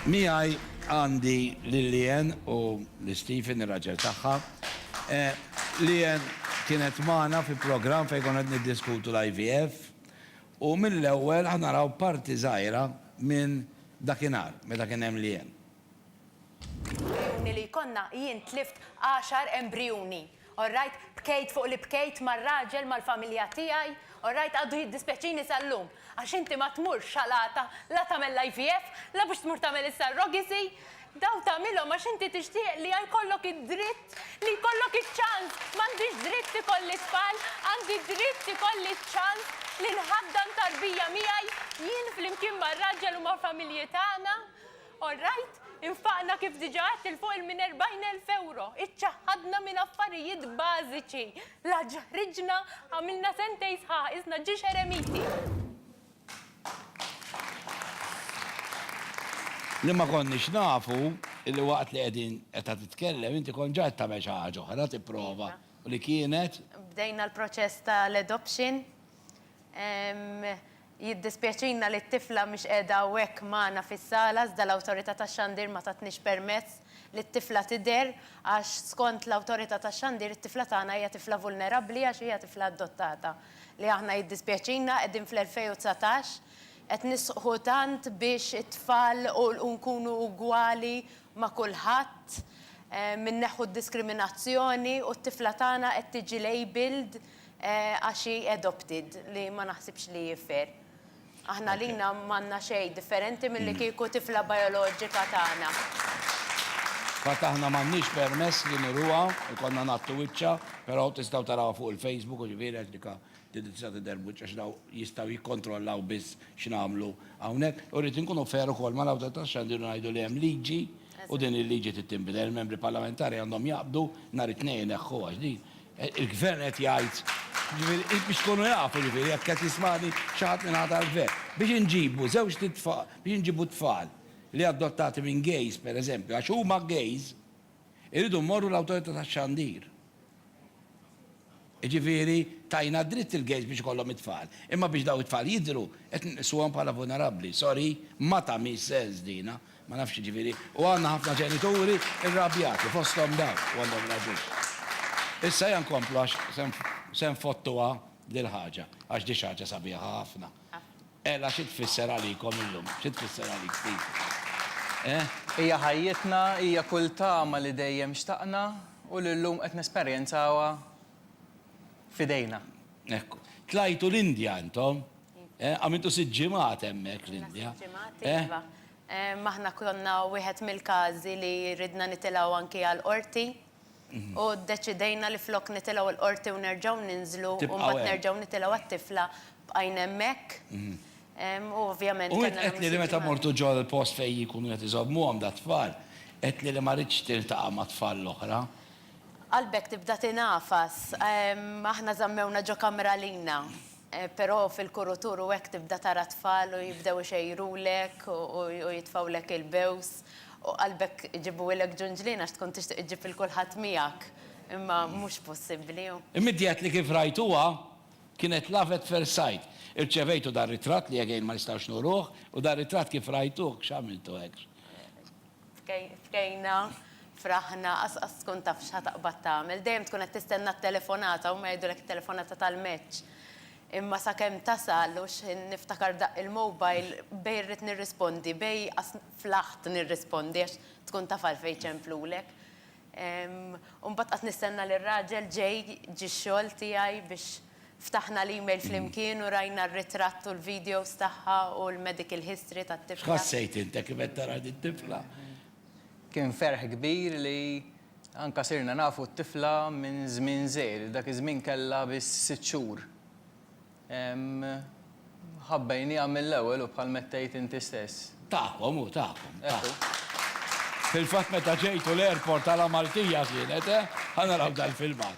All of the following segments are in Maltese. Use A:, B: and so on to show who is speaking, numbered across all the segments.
A: Miegħi għandi lil Leanne u lil Stephen, ir-raġel tagħha. Eh, Leanne kienet magħna fi programm fejn konna qed niddiskutu l-IVF u mill-ewwel ħa naraw parti żgħira minn dakinhar meta kien hemm Leanne. Jgħinni
B: li jkollna, jien tlift għaxar embrijuni. All right, bkejt fuq li bkejt mar-raġel mal-familja tiegħi, all right, għadu jiddispjaċini sal-lum, għax inti ma tmurx xalata la tagħmel l-IVF, la biex tmur tagħmel is-surrogacy, dawn tagħmilhom għax inti tixtieq li jkollok id-dritt, li jkollok iċ-ċans, m'għandix dritt ikolli tfal, għandi dritt ikolli ċ-ċans li nħaddan tarbija miegħi, jien flimkien mar-raġel u mal-familji tagħna. All right, infaqna kif diġà għedt 'il fuq minn 40,000 ewro, iċċaħħadna minn affarijiet bażiċi, la ġaħriġna, għamilna sentejn sħaħ qisna ġiex eremiti.
A: Li ma konniex nafu li waqt li qegħdin qed titkellem inti kont ġa qed tagħmel xi ħaġa oħra tipprova u li kienet? Bdejna l-proċess
B: tal-adoption. Jiddispjaċina li t-tifla mhix qiegħda hawnhekk magħna fis-sala iżda l-Awtorità tax-Xandir ma tatnix permess li t-tifla tidher għax skont l-Awtorità tax-Xandir it-tifla tagħna hija tifla vulnerabbli għax hija tifla adottata li aħna jiddispjaċina qegħdin fl-2019 qed nisħqu tant biex it-tfal u u nkunu ugwali ma' kulħadd inneħħu d-diskriminazzjoni u t-tifla tagħna qed tiġi labelled Għax hi adopted, li ma naħsibx li hi fair. Aħna għalina m'għandna xejn differenti milli kieku tifla bioloġika tagħna.
A: Fil-fatt aħna m'għandniex permess li niruha, ikollna ngħattu wiċċha, però tistgħu tarawha fuq il-Facebook u ġifieri għax dikha tista' tidher b'wiċċ għax dawn jistgħu jikkontrollaw biss x'nagħmlu hawnhekk. U rrid inkunu fair ukoll mal-Awtorità tax-Xandir u ngħidu li hemm liġi u din il-liġi trid tinbidel. Il-Membri Parlamentari għandhom jaqbdu nhar it-Tnejn ineħħuha għax din Il-Gvern qed jgħid, jiġifieri biex tkunu jafu jiġifieri jekk qed jismagħni xi ħadd min-naħa tal-Gvern, biex inġibu żewġt itfa, biex inġibu t-tfal li adottati minn gays, per eżempju, għax huma gays, irridu mmorru l-Awtorità tax-Xandir. Jiġifieri tajna d-dritt il-gays biex ikollhom it-tfal, imma biex dawn it-tfal jidhru qed nqisuhom bħala vulnerabbli. Sorry, ma tagħmilx sens dina. Ma nafx jiġifieri. U għandna ħafna ġenituri rrabjati, fosthom dawn, u għandhom raġun. Issa ejja nkomplu għax se nfottuha dil-ħaġa, għax di xi ħaġa sabiħa ħafna. Għela xi tfisser għalikom illum? Xi tfisser għalik, Steve? Eh? Hija
C: ħajjitna, hija kull tama li dejjem xtaqna u li llum qed nesperjenzawha f'idejna. Hekk
A: hu. Tlajtu l-Indja intom? Eh, għamiltu sitt ġimgħat hemmhekk l-Indja. Eh? Iva. Eh,
B: maħna konna wieħed mill-każi li ridna nitilgħu anki għal qorti. Mhm. U deċidejna li flok nitilgħu l-qorti u nerġgħu ninżlu u mbagħad nerġgħu nitilgħu għat-tifla bqajn hemmhekk. Mhm. U ovvjament. U qed li meta
A: mortu ġo l-post fejn jkunu qed iżommuhom da tfal, qed li ma ridx tiltaqa' ma' tfal l-oħra. Qalbek
B: tibda tinafas, aħna żammewna ġo kamra lina. Però fil-kurutur u hekk tibda tara t-tfal u jibdew ixejrulek u jitfgħulek il-bews u qalbek iġibuhilek ġunġlien għax tkun tixtieq iġġib lil kulħadd miegħek imma mhux possibbli. Immidjat li kif
A: rajtuha kienet love at first sight. Irċevejtu dar-ritratt li jegħin ma nistgħux nuruh u dar-ritratt kif rajtuh x'għamiltu hekk? Bkejna,
B: fraħna, qas tkun taf x'ħa taqbad tagħmel. Dejjem tkun qed tistenna t-telefonata, huma jgħidulek it-telefonata tal-match. Imma sakemm tasal u x'ħin niftakar daqq il-mobile, bej irrid nirrispondi, bej qas flaħt nirrispondi għax tkun taf għalfejn jċemplulek. U mbagħad qas nistenna lir-raġel ġej, ġie x-xogħol tiegħi biex. Ftaħna l-email flimkien u rajna r-ritratt u l-videos tagħha u l-medical history tat-tifla. X'ħassejt int kif qed
A: tara din tifla? Kien
C: ferħ kbir li anke sirna nafu t-tifla minn żmien żgħir, dak iż-żmien kellha biss sitt xhur. Ħabbejniha mill-ewwel u bħal mettejt inti stess. Tagħkom hu, tagħkom.
A: Ekku. Fil-fatt meta ġejtu l-airport għala Maltija kienet, eh? Ħa naraw dal-filmat.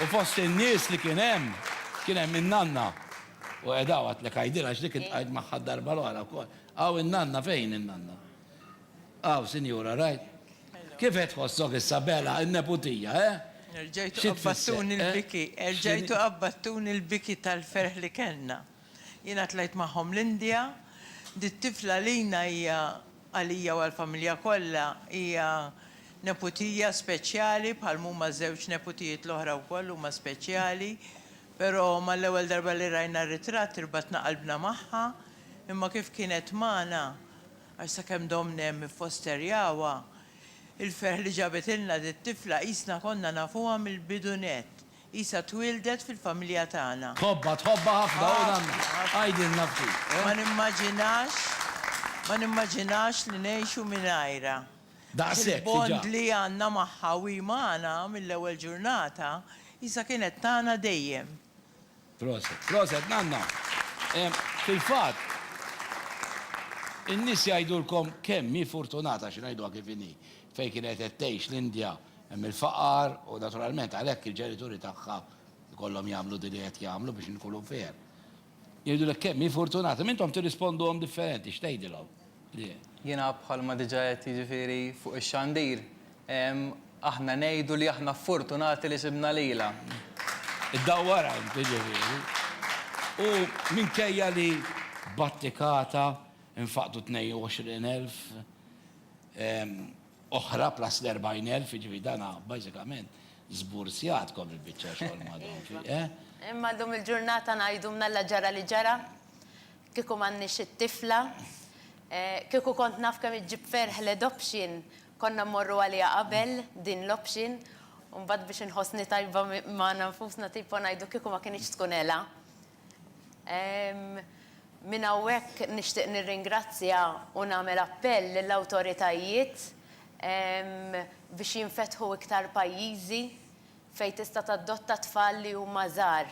A: U fost in-nies li kien hemm, kien hemm in-nanna. U qiegħda hawn għadlek għajdilha għax dik intqajt magħha d-darba l-oħra wkoll. Hawn in-nanna fejn in-nanna? Hawn, sinjura, rajt? Kif qed tħossok issa Bela, in-neputija, eh? Erġajtu
D: qabbattuni
A: l-biki,
D: erġajtu qabbattuni l-biki tal-ferħ li kellna. Jiena tlajt magħhom l-Indja, dit-tifla għalina hija Għalija u għall-familja kollha hija neputija speċjali bħal m'huma ż-żewġ neputijiet l-oħra wkoll huma speċjali. Però mal-ewwel darba li rajna r-ritratt irbatna qalbna magħha, imma kif kienet magħna, għax sakemm domna hemm iffosterjawha, il-ferħ li ġabitilna dit-tifla qisna konna nafuha mill-bidu nett. Qisha twieldet fil-familja tagħna. Tħobbha, tħobbha ħafna
A: u dan għidilna ftit, eh? Ma nimmaġinax,
D: ma nimmaġinax li ngħixu mingħajrha. Għax
A: il-bond li għandna
D: magħha u hi magħna mill-ewwel ġurnata, qisha kienet tagħna dejjem. Proset,
A: proset nanna. Fil-fatt, in-nies jgħidulkom kemm hi furtunata, xi ngħiduha kif inhi. Fejn kienet qed tgħix l-Indja hemm il-faqar u naturalment għalhekk il-ġenituri tagħha jkollhom jagħmlu din li qed jagħmlu biex inkunu fair. Jgħidulek kemm hi fortunata, imma intom tirrisponduhom differenti, x'tgħidilhom? Le. Jiena
C: bħalma diġà għedt jiġifieri fuq ix-xandir, aħna ngħidu li aħna fortunati li sibna lilha. Iddawwarha
A: int jiġifieri. U minkejja li battikata nfaqdu 22,000, oħra plus l-40,000, jiġifieri dan bażikament żburzjatkom il-biċċa xogħol ma' dawn fih, eh? Imma llum
B: il-ġurnata ngħidu mnalla ġara li ġara, kieku m'għandniex it-tifla, kieku kont naf kemm iġġib ferħ l-adoption, konna mmorru għaliha qabel din l-option, u mbagħad biex inħossni tajba magħna nfusna tipo ngħidu kieku ma kinitx tkun Ela. Minn hawnhekk nixtieq nirringrazzja u nagħmel appell lill-awtoritajiet biex jinfetħu iktar pajjiżi fejn tista' tadotta tfal li huma żgħar.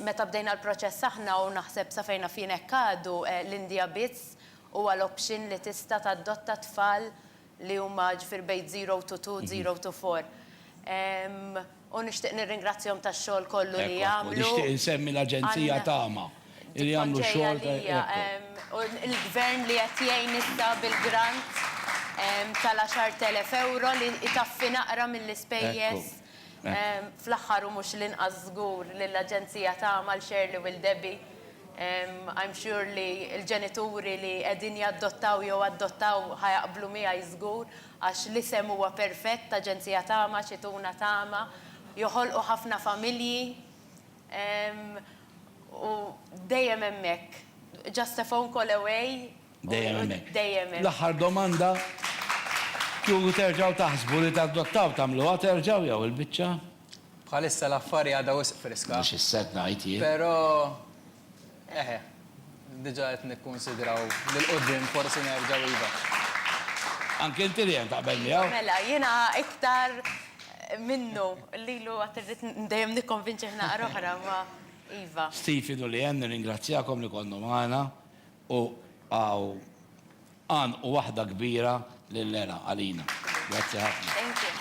B: Meta bdejna l-proċess aħna u naħseb sa fejn naf jien hekk għadu, l-Indja biss huwa l-option li tista' tadotta tfal li huma ġifieri bejn zero to two, zero to four. U nixtieq nirringrazzjahom tax-xogħol kollu li jagħmlu. Ekku, u nixtieq insemmi
A: l-Aġenzija Tama li jagħmlu xogħol ta', ekku. U l-Gvern
B: li qed jgħin issa bil-grant tal-€10,000 li jtaffi naqra mill-ispejjeż. Fl-aħħar u mhux l-inqas żgur lill-Aġenzija Tama, 'l Shirley u 'l Debbie. I'm sure li l-ġenituri li qegħdin jaddottaw jew addottaw ħa jaqblu miegħi żgur. Għax l-isem huwa perfett, Aġenzija Tama, xi tuna tama, joħolqu ħafna familji, u dejjem hemmhekk, just a phone call away, Dejjem hemmhekk.
A: dejjem hemm. L-aħħar
B: domanda,
A: Kieku terġgħu taħsbu li tadottaw, tagħmluha terġgħu jew il-biċċa? Bħalissa
C: l-affari għadha wisq friska. Mhux is-sett ngħid jien.
A: Però
C: Eħe, diġa qed nikkunsidraw li l-quddiem forsi nerġgħu iva.
A: Anke inti Ryan taqbel miegħu? Mela, jiena
B: iktar minnu, lilu għad irrid dejjem nikkonvinċih naqra oħra imma iva. Stephen u Leanne
A: nirringrazzjakom li kontu magħna u hawn għanqu
B: waħda
A: kbira lil Nera għalina. Grazzi
B: ħafna.
A: Thank you.